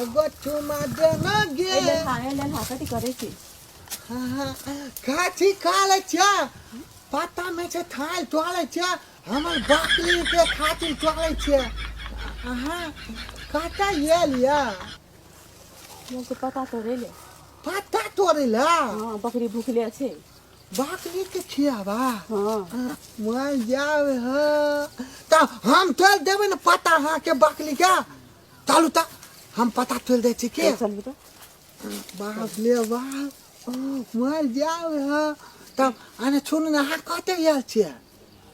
एगो चुमा दे ना गे ए लेन हा ए लेन हा कथी करै छी काठी खा ले छे पत्ता में छे थाल चले छे हमर बकरी के खातिर चले छे अहाँ कतऽ ये लिया मोर के पता तोरे ले पत्ता तोड़े ला हां बकरी भूखले छै बकरी के खियाबा हां मर जावे ह त हम तोड़ देबे न पत्ता अहाँ के बकरी के चलू तऽ हम पता चलि जाइ छी के चलू तऽ बाप ले बाप मर जाओ है तब अरे सुन ना हाँ कहते आयल छियै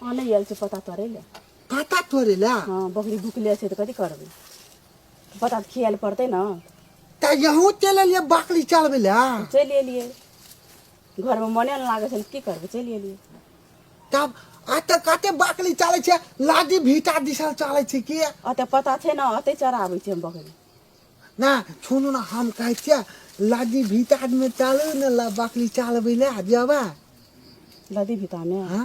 अहाँ नहि आयल छै पता तोड़ै लए पता तोड़े ला हँ बकरी भुकले छै तऽ कथी करबै पता तऽ खियाए लए पड़तै ने तऽ यहूँ चलि एलियै बकरी चलबै ला चलि एलियै घरमे मने नहि लागै छनि की करबै चलि एलियै तब अतऽ कते बकरी चलै छै लादी भीटा दिसल चलै छै कि अतऽ पता छै ने अतऽ चराबै छै हम बकरी ना सुनू ने हम कहै छियै लादी भीटामे चलू ने ला बकरी चलबै लए जेबै लदी भीटामे हाँ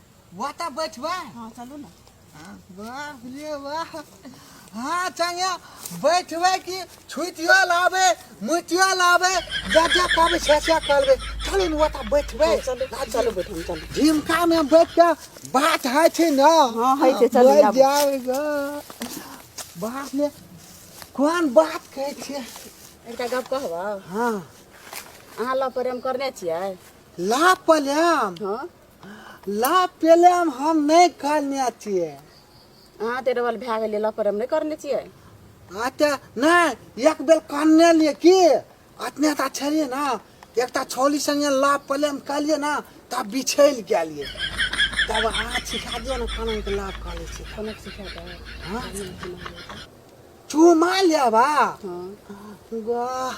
वाह ता बैठबा हाँ चलू ना हाँ, वाह ये वाह हाँ चंगे बैठबे कि छुटियो लाबे मुटियो लाबे जा जा कहबे छे छे कहबे चलू ने वाह बैठबे हाँ, चलू चलू बैठू चलू झिमका में बैठ के बात है छे ना हाँ है छे चलू जा जाएगा बात में कौन बात कहे छे एकटा गप कहबा हाँ अहाँ ला प्रेम करने छियै ला प्रेम हाँ ला पहले हम हम नहीं करने चाहिए अहाँ तऽ डबल भए गेलै लऽ पर हम नहि करने छियै अच्छा नहीं एक बेर करने लिए की अतने ता छलिए ना एक ता छोली संगे ला पहले हम कर लिए ना तब बिछैल के लिए तब अहाँ सिखा दिए ना खाना के लाभ कर ले छी कोना सिखा दे हाँ? चूमा लेबा हँ वाह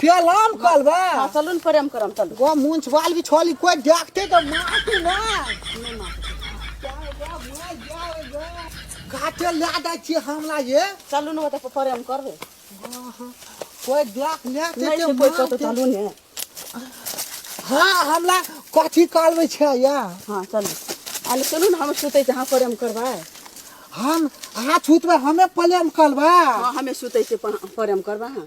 पेलाम कलबा हँ चलू ने प्रेम करम चलू गो मुंछ बाल भी छोली कोई देखते तो मारते ना काटे ला दै छी हमला ये चलू ने ओतऽ प्रेम करबै कोई देख ले नहि ते छै कोइ कतहु चलू ने हां हमला कथी करबै छै या हँ चलू अरे चलू ने हम सुतै छी अहाँ प्रेम करबै हम हाथ उठबै हमे प्रेम करबै हँ हमे सुतै छी प्रेम करबै अहाँ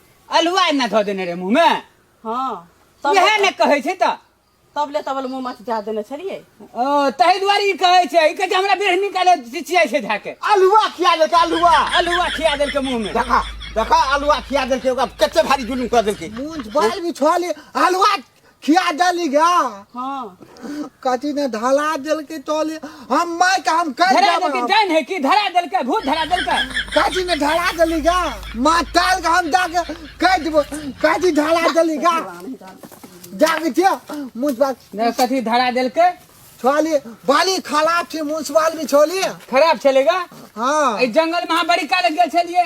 अलुआ एना धऽ देने रहे मुँह में हाँ तब इएह ने कहै छै तऽ तब ले तब ले मुँह मत जा देने छलिए ओ ताहि दुआरे ई कहै छै ई कहै छै हमरा बेरहनी काले चिचियाइ छै धए के अलुआ खिया देलकै अलुआ अलुआ खिया देलकै मुँह में देखा देखा अलुआ खिया देलकै ओकरा कते भारी जुलूम कऽ देलकै मूंछ बाल बिछोले हलवा खिया डाली गा हाँ कथी ने धला दिल के तोले हम माय का हम कर धरा देलकै देब जान है कि धरा देलकै भूत धरा देलकै कथी ने धला दिली गा माँ ताल का हम दाग कर देब कथी धला दिली गा जाग जे मुझ बात ने कथी धरा देलकै छोली बाली खराब छे मुंसवाल भी छोली खराब छलेगा हाँ एहि जंगल में अहाँ बड़ी काल गेल छलियै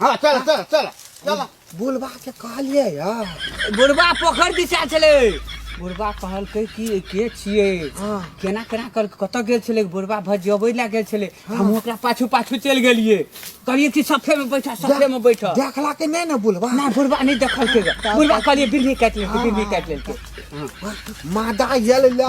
हाँ चल चल चल चल बुढ़बा के कहलिए यार बुढ़बा पोखर दिशा छले बुढ़बा कहलकै कि के छिए हाँ। केना केना कर कत गेल छले बुढ़बा भजबै ला गेल छले हाँ। हम ओकरा पाछू पाछू चल गेलिए कहलिए कि सफे में बैठा सफे में बैठा देखला के नहीं ना बुढ़बा ना बुढ़बा नहीं देखल के बुढ़बा कहलिए बिल्ली काट ले बिल्ली काट ले मादा यल ला